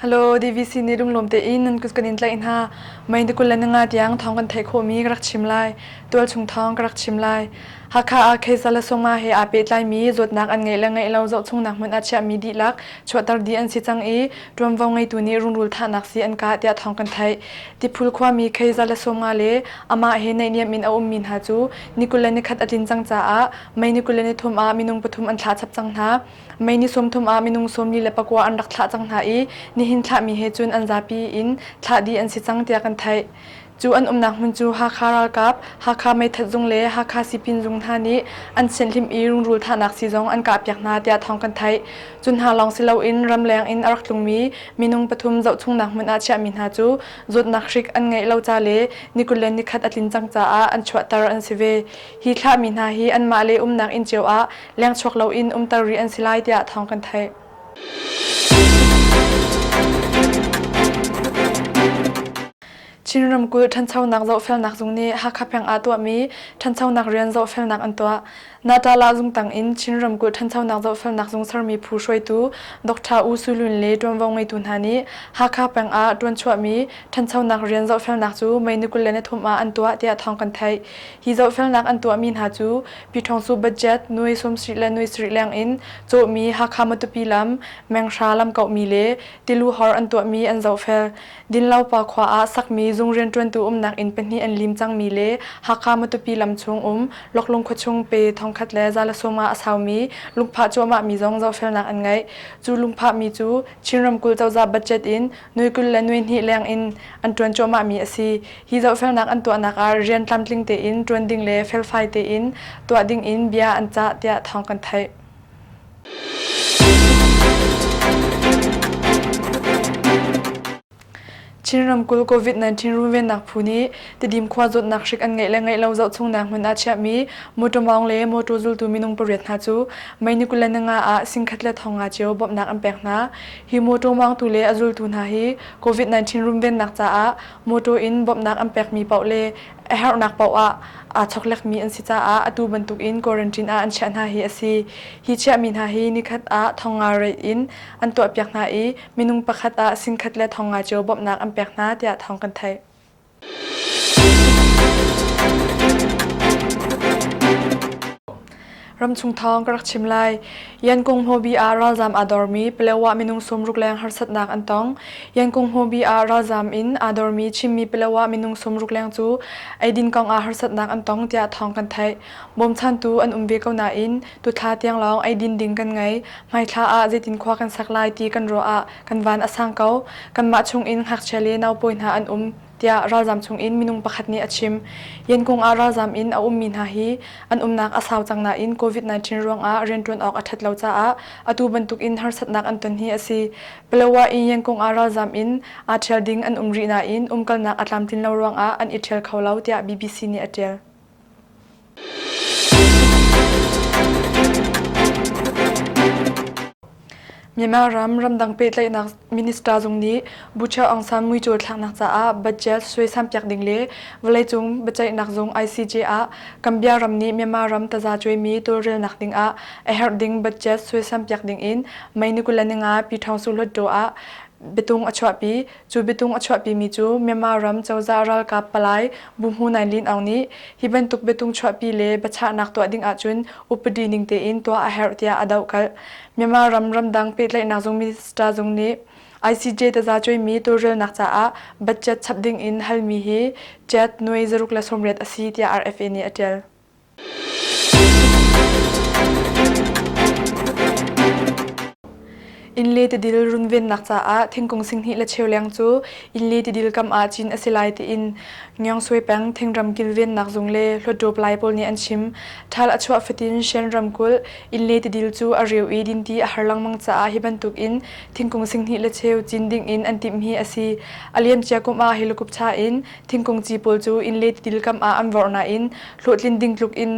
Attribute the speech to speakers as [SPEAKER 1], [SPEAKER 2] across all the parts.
[SPEAKER 1] Hello DVC ni rum lom te in nan kus kan in tlai hna mai de kulan nga tiang thong kan thei kho mi ka rak chim lai tual chung thong ka rak chim lai hakha a khaisa la songa he a pe tlai mi zot nak an ngai la ngai lo zo chung nak mun a chia mi di lak chuatar di an si chang i tuam vo ngai tu ni rung rul tha nak si an ka tia thong kan thai Tiphul khuami Kheiza le Sawmnga le amah he naihniam in a ummi hna cu ni kul le ni khat a tlin cang caah May ni kul le ni thum ah minung pathum an thlah chap cang hna. May ni sawm thum ah minung sawmli le pakua an rak thlah cang hna i nihin thlahmi he cun an zapi in thlah dih an si cang tiah kan theih. Cu an umnak hmun cu Hakha ralkap, Hakha meithat zung le Hakha sipin zung hna nih an sianhlim i rungrul thahnak sii zong an kahpiak hna tiah thawng kan theih. Cu hna lawng si loin ramleng in a rak tlungmi minung pathum zohchungnak hmun ah chiahmi hna cu zawtnak hrik an ngeih lo ca le nikul le nikhat a tlin cang caah an chuahter an si ve. Hi thlahmi hna hi anmah le umnak inn cio ah lengchuak loin umter rih an si lai tiah thawng kan theih. Chin ramkulh ṭhanchonak zohfelnak zung nih Hakha peng aa tuahmi ṭhanchonak rian zohfelnak an tuah. Natala zungtang in Chin ramkulh ṭhanchonak zohfelnak zung sermi phu hruaitu Dr. U Sui Lun le ṭuanvo ngeitu hna nih Hakha peng ah ṭuan chuahmi ṭhanchonak rian zohfelnak cu May ni kul le nithum ah an tuah tiah thawng kan theih. Hi zohfelnak an tuahmi hna cu Pi Ṭhawng Su budget nuai sawmsarih le nuai sarih leng in cawhmi Hakha Matupi lam, Menghra lamkauhmi le Tilu hor an tuahmi an zohfel. Dinlopa khua ah sakmi zung rianṭuantu umnak inn pahnih an lim cangmi le Hakha Matupi lam chung um Loklung khuachung pe thongkhat le za le sawm ah a saumi lungphah cuahmahmi zong zohfelnak an ngeih. Cu lungphahmi cu Chin ramkulh cozah budget in nui kul le nui hnih leng in an ṭuan cuahmahmi a si. Hi zohfelnak an tuahnak ah rian tlamtling tein ṭuan ding le felfai tein tuah ding in bia an cah tiah thawng kan theih. Chin ramkulh COVID-19 runvennak phu nih Tidim khua zawtnak hrik an ngeih le ngeih lo zohchungnak hmun ah chiahmi mawṭaw mawng le mawṭaw zultu minung pariat hna cu Maynikulla Nanga ah singkhat le thonga cio bawmhnak an pek hna. Hi mawṭaw mawngtu le a zultu hna hi COVID-19 runvennak caah mawṭaw in bawmhnak an pekmi paoh le a herhnak paoh ah aa chawklekmi an si caah atu bantuk in quarantine ah an chiah hna hi a si. Hi chiahmi hna hi nikhat ah thonga rei in an tuahpiak hna i minung pakhat ah sinkhat le thonga cio bawmhnak an pek hna tiah thawng kan theih. Ramchung thawng ka rak chim lai. Yankung Hmobi ah ralzam aa dormi Palawa minung sumruk leng harsatnak an tong. Yankung Hmobi ah ralzam in aa dormi Chinmi Palawa minung sumruk leng cu eidin kong ah harsatnak an tong tiah thawng kan theih. Bawmchantu an um ve ko nain tuthla tiang lawng eidin ding kan ngei. Hmaithla ah zeitin khua kan sak lai ti kan ruah ah kan van a sang ko. Kanmah chung in ngakchia le naupawi hna an um. tiah ralzam chungin minung pakhat nih a chim. Yankung ah ralzam in a ummi hna hi an umnak a sau cang nain COVID-19 ruangah rianṭuan awk a ṭhat lo caah atu bantukin harsatnak an ton hi a si. Palawa in Yankung ah ralzam in aa ṭhial ding an um rih nain umkalnak a tlamtlin lo ruangah an i ṭhial kho lo tiah BBC nih a ṭial. Myanmar ram ramdang pehtlaihnak minister zung nih Bucha Aung San muicual thlaknak caah budget suaisam piak ding le vawleicung biaceihnak zung ICJ ah Gambia ram nih Myanmar ram taza cuaimi tawlrelnak ding ah a herh ding budget suaisam piak ding in May ni kul le ni nga Pi Thong Su Hluttaw ah biatung a chuahpi Cu biatung a chuahpimi cu Myanmar ram cozah ralkap palai Bu Hmu Nain Lin Aung nih hi bantuk biatung chuahpi le biachahnak tuah ding ahcun upadi ning tein tuah a herh tiah a dohkalh. Myanmar ram ramdang pehtlaihnak zung minister zung nih ICJ tazacuaimi tawlrelnak caah budget chap ding in halmi hi Jet, Nui, zaruk le sawmriat a si tiah RFA nih a ṭial. Inn le tidil runvennak caah thingkung singhnih le cheuleng cu inn le tidil kam ah cin a si lai tiin Ngyong Sui peng thingram kilvennak zung le Hlawtṭup lai pawl nih an chim. Ṭhal a chuah fatin Shan ramkulh inn le tidil cu a reu i dinti a har lengmang caah hi bantuk in thingkung singhnih le cheu cin ding in an timh hi a si. A liamcia kum ah hi lukupṭha in thingkung ci pawl cu innle tidil kam ah an vorh nain hlawhtlin ding tluk in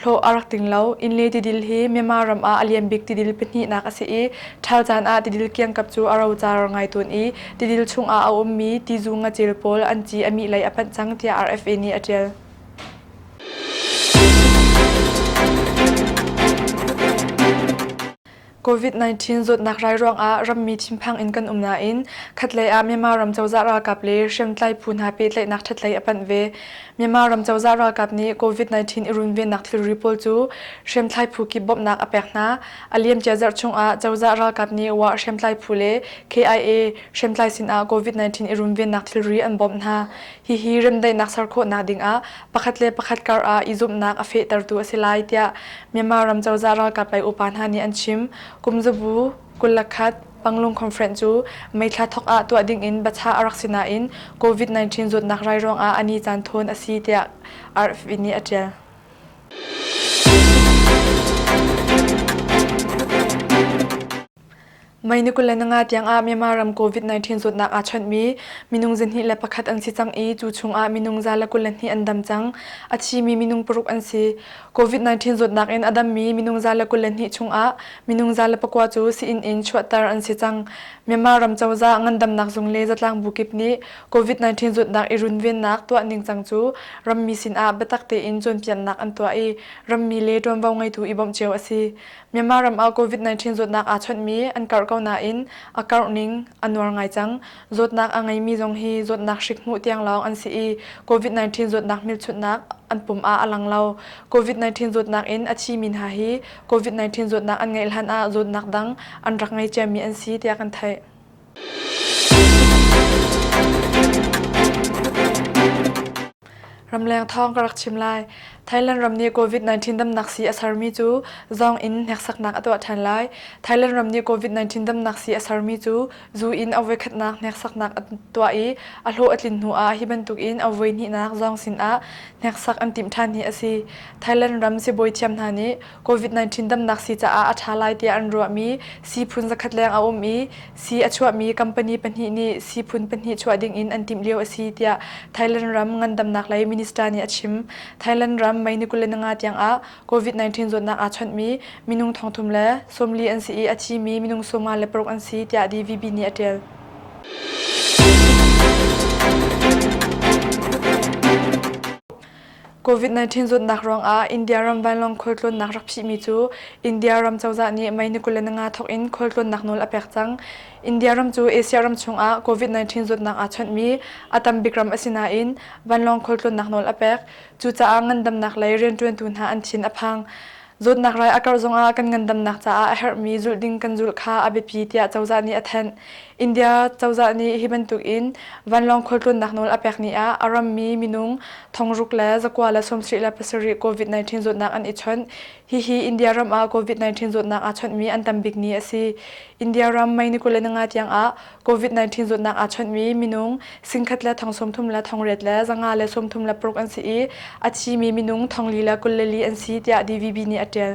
[SPEAKER 1] hlawh a rak ting lo. Innle tidil hi Myanmar ram ah a lian bik tidil pahnihnak a si i ṭhal caan ah tidil kiangkap cu a rocar ngai tawn i tidil chung ah a ummi tizu ngacel pawl an ci a mih lei a phanh cang tiah RFA nih a ṭial. COVID-19 zawtnak rai ruangah rammi thinphang in kan um nain khatlei ah Myanmar ram cozah ralkap le hriamtlai phu hna pehtlaihnak ṭhatlei a panh ve. Myanmar ram cozah ralkap nih COVID-19 i runvennak thilri pawl cu hriamtlai phu kip bawmhnak a pek hna. A liamcia zarh chungah cozah ralkap nih Wa hriamtlai phu le KIA hriamtlai sinah COVID-19 i runvennak thilri an bawmh hna. Hihi remdaihnak ser khawhnak dingah pakhat le pakhat kar ah i zumhnak a fehtertu a si lai tiah Myanmar ram cozah ralkap lei upa hna nih an chim. Kumzabu, kullakhat, Panglung Conference cu meithla thawk ah tuah dingin bachah a rak si nain COVID-19 zawtnak rai ruangah a ni caan thawn a si tiah RFIN nih a ṭial. May ni kul le nga tiangah Myanmar ram COVID-19 zawtnak aa chawnhmi minung zihnih le pakhat an si cang i cu chungah minung za le kul le hnih an dam cang. A thimi minung paruk an si. COVID-19 zawtnak in a dammi minung za le kul le hnih chungah minung za le pakua cu sii-inn in chuahter an si cang. Myanmar ram cozah ngandamnak zung le zatlang bu kip nih COVID-19 zawtnak i runvennak tuah ningcang cu rammi sinah biatak tein cawnpiaknak an tuah i rammi le ṭuanvo ngeitu i bawmh cio a si. Myanmar ram ah COVID-19 zawtnak aa chawnhmi an karh ko nain a karh ning a nuar ngai cang. Zawtnak a ngeimi zong hi zawtnak hrik hmuh tiang lawng an si i COVID-19 zawtnak hmelchunhnak an pum ah a lang lo. COVID-19 zawtnak in a thimi hna hi COVID-19 zawtnak an ngeih hlan ah zawtnak dang an rak ngei ciami an si tiah kan theih. Ramleng thawng ka rak chim lai. Thailand ram nih COVID-19 damnak sii a sermi cu zong in hneksaknak a tuah ṭhan lai. Thailand ram nih COVID-19 damnak sii a sermi cu zu in a voikhatnak hneksaknak a tuah i a hlawh a tlin hnu ah hi bantuk in a voihnihnak zong sinah hneksak an timh ṭhan hi a si. Thailand ram sibawi thiam hna nih COVID-19 damnak sii caah a ṭha lai tiah an ruahmi siiphun zakhat leng a um i sii a chuahmi company pahnih nih siiphun pahnih chuah ding in an timh lio a si tiah Thailand ram ngandamnak lei minister nih a chim. Thailand ram May ni kul le nga tiangah COVID-19 zawtnak aa chawnhmi minung thongthum le sawmli an si i a thimi minung sawma le paruk an si tiah DVB nih a ṭial. COVID-19 zawtnak ruangah India ram vanlawng khualtlawnnak rak phihmi cu India ram cozah nih May ni kul le nga thawk in khualtlawnnak nawl a pek cang. India ram cu Asia ram chungah COVID-19 zawtnak aa chawnhmi a tam bik ram a si nain vanlawng khualtlawnnak nawl a pek. Cucaah ngandamnak lei rianṭuantu hna an thin a phang. Zawtnak rai a karh zongah kan ngandamnak caah a herhmi zulh ding kan zulh kha a biapi tiah cozah nih a thanh. India cozah nih hi bantukin vanlawng khualtlawnnak nawl a pek ni ah a rammi minung thongruk le zakua le sawmsarih le pasarih COVID-19 zawtnak an i chawnh. Hihi India ram ah COVID-19 zawtnak aa chawnhmi an tam bik ni a si. India ram May ni kul le nga tiangah COVID-19 zutnak aa chawnhmi minung singkhat le thong sawmthum le thongret le zanga le sawmthum le paruk an si i a thimi minung thonglili le kul le li an si tiah DVB nih a ṭial.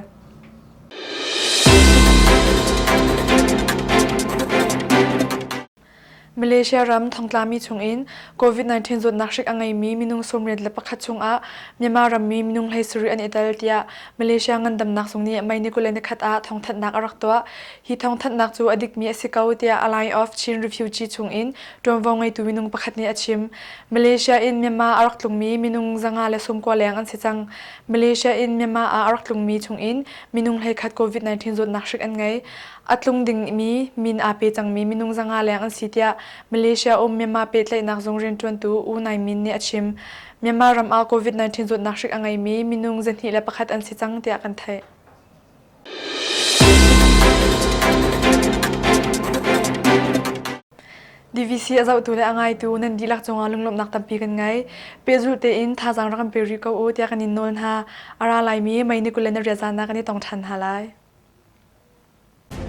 [SPEAKER 1] Malaysia ram thongtlami chungin COVID-19 zutnak hrik a ngeimi minung sawmriat le pakhat chungah Myanmar rammi minung hlei sarih an itel tiah Malaysia ngandamnak zung nih May ni kul le nikhat ah thongthatnak a rak tuah. Hi thawngthanhnak cu a dikmi a si ko tiah a Line of Chin Refugee chungin ṭuanvo ngeitu minung pakhat nih a chim. Malaysia in Myanmar a rak tlungmi minung zanga le sungkua leng an si cang. Malaysia in Myanmar ah a rak tlungmi chungin minung hleikhat COVID-19 zawtnak hrik an ngei. A tlung dingmi min aa pe cangmi minung zanga leng an si tiah Malaysia um Myanmar pehtlaihnak zung rianṭuantu U Nai Min nih a chim. Myanmar ram ah COVID-19 zawtnak hrik a ngeimi minung zahnih le pakhat an si cang tiah kan theih. DVC a zohtu le a ngaitu nan dihlak cungah lunglawmhnak tampi kan ngei. Pehzulh tein thazaang rak kan pe rih ko u tiah kan in nawl hna. A ra laimi mei ni kul le na riat zaan ah kan i tong ṭhan hna lai.